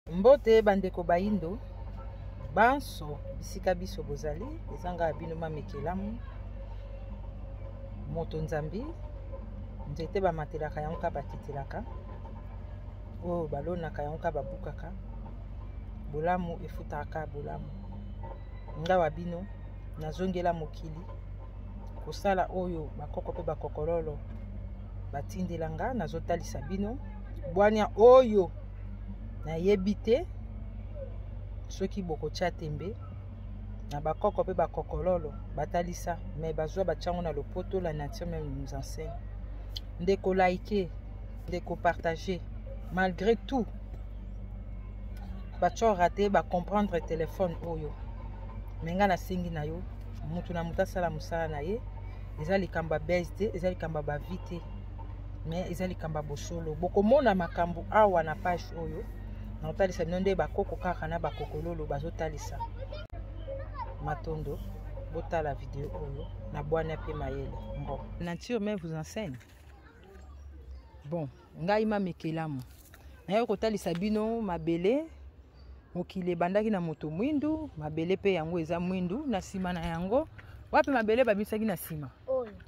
Mbote bandeko bayindo banso bisika biso bozali ezanga bino mamekelamu moto nzambi nzete bamatelaka yango ka bakitelaka oyo balonaka yango ka babukaka bolamu efutaka bolamu ngawa bino nazongela mokili kosala oyo bakoko mpe bakokololo batindela nga nazotalisa bino bwania oyo nayebi te soki bokotya tembe na bakoko mpe bakokololo batalisa me bazwa batyango na lopoto la nature meme nous enseigne ndeko like ndeko partage malgré tout batyo rate bacomprendre telefone oyo me ngai nasengi na yo moto na moto asala mosala na ye eza likambo ya base te eza likambo ya bavie te mais eza likambo ya bosolo bokomona makambo awa na page oyo nakotalisa bino nde bakoko kaka na bakokololo bazotalisa matondo botala video oyo na bwana mpe mayele mbo nature me vous enseigne bon ngai mamekelamu naye kotalisa bino mabele mokili ebandaki na moto mwindu mabele mpe yango eza mwindu na nsima na yango wapi mabele babimisaki na nsima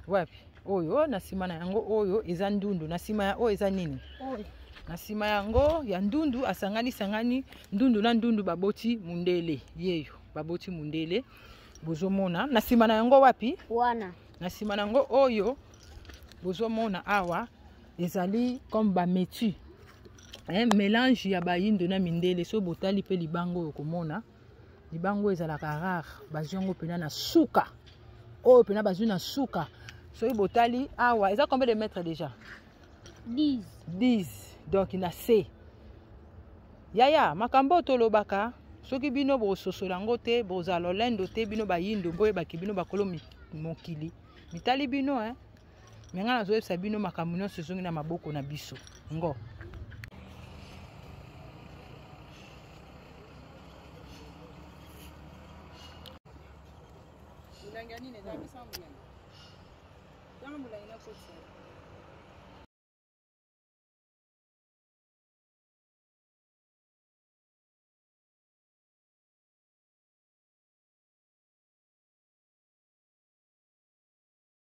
wapi oyo na nsima na yango oyo eza ndundu na nsima ya oyo eza nini oyo na nsima yango ya ndundu asangani sangani ndundu na ndundu baboti mundele yeyo baboti mundele bozomona na nsima na yango wapi wana na nsima na yango oyo bozomona awa ezali comme bametu eh, melange ya bayindo na mindele so botali mpe libanga oyo komona libango oyo ezalaka rare bazwi yango mpena na suka oyo mpena bazwi na suka soki botali awa eza combien de mètre déjà 10 10 donc na se yaya makambo oyo tolobaka soki bino bososola yango te bozala lolendo te bino bayindo boyebaki bino bakolo mokili mitali bino eh? me ngai nazoyebisa bino makambo nyonso ezongi na maboko na biso ngo molangi ya nini eza misa molangi ntango molangi nakotisa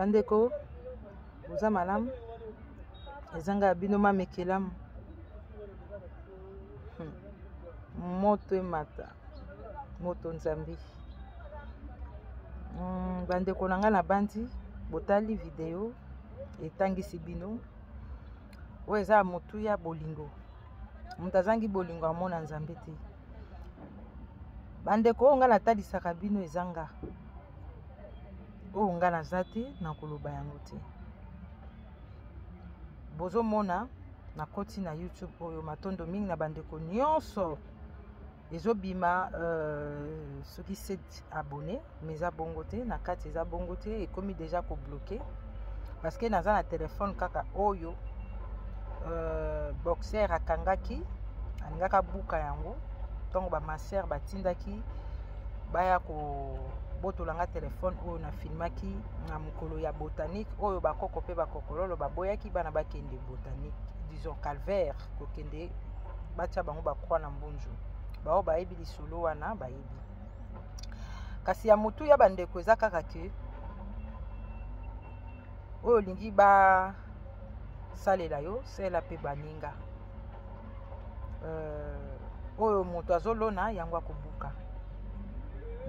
bandeko boza malamu ezanga ya bino mamekelamu hmm. moto emata moto nzambe mm, bandeko na ngai nabandi botali video etangisi bino oyo eza motu ya bolingo moto azangi bolingo amona nzambe te bandeko oyo ngai natalisaka bino eza nga oyo ngai naza te nakoloba yango te bozomona nakoti na youtube oyo matondo mingi na bandeko nyonso ezobima euh, soki 7 abonné mais eza bongo te na kati eza bongo te ekomi déjà kobloke parce que naza na telefone kaka oyo euh, boxer akangaki alingaki abuka yango ntango bamaser batindaki baya kobotola nga telefone oyo nafilmaki na mokolo ya botanique oyo bakoko mpe bakokololo baboyaki bana bakende botanique disons calvaire kokende batya bango bakwa na mbunzu baoyo bayebi lisolo wana bayebi kasi ya motu ya bandeko eza kaka ke oyo olingi basalela yo sela mpe baninga euh, oyo moto azolona yango akobuka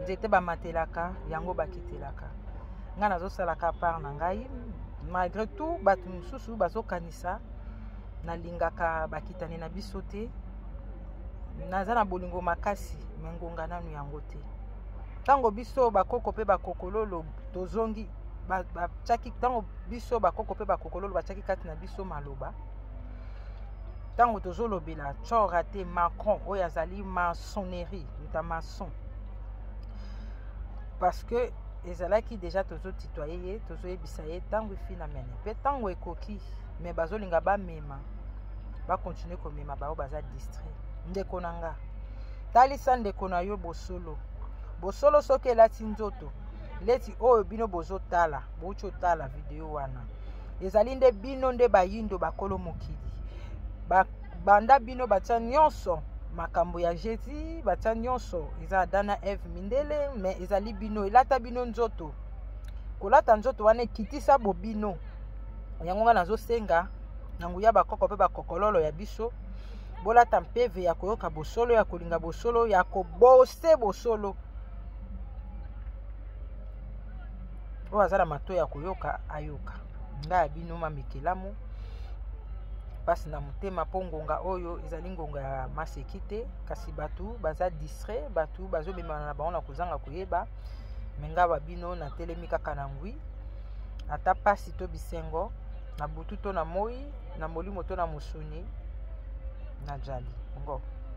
nzete bamatelaka yango bakitelaka ngai nazosalaka part na ngai malgré tout bato mosusu bazokanisa nalingaka bakitani na biso te naza na bolingo makasi me ngonga nanu yango te ntango biso bakoko mpe bakokololo tozongi batiaki ntango biso bakoko mpe bakokololo batiaki kati na biso maloba ntango tozolobela cora te macron oyo azali maçonnerie muta maçon parce que ezalaki deja tozotitoye ye tozoyebisa ye ntango efinamene mpe ntango ekoki mais bazolinga bamema bakontinue komema bango baza distrait ndeko na nga talisa ndeko na yo bosolo bosolo soki elati nzoto leti oyo bino bozotala bouti otala video wana ezali nde bino nde bayindo bakolo mokili banda bino batya nyonso makambo ya jesus batya nyonso eza adana eve mindele me ezali bino elata bino nzoto kolata nzoto wana ekitisa bobino yango nga nazosenga na nguya bakoko mpe bakokololo ya biso bolata mpeve ya koyoka bosolo ya kolinga bosolo ya kobose bosolo oyo aza na mato ya koyoka ayoka ngai ya bino mamekelamu mpasi na motema mpo ngonga oyo ezali ngonga ya maseki te kasi bato baza distrait bato bazomemana na bango na kozanga koyeba me nga ba bino natelemi kaka na ngwi ata mpasi to bisengo na butu to na moi na molimo to na mosuni najali ngo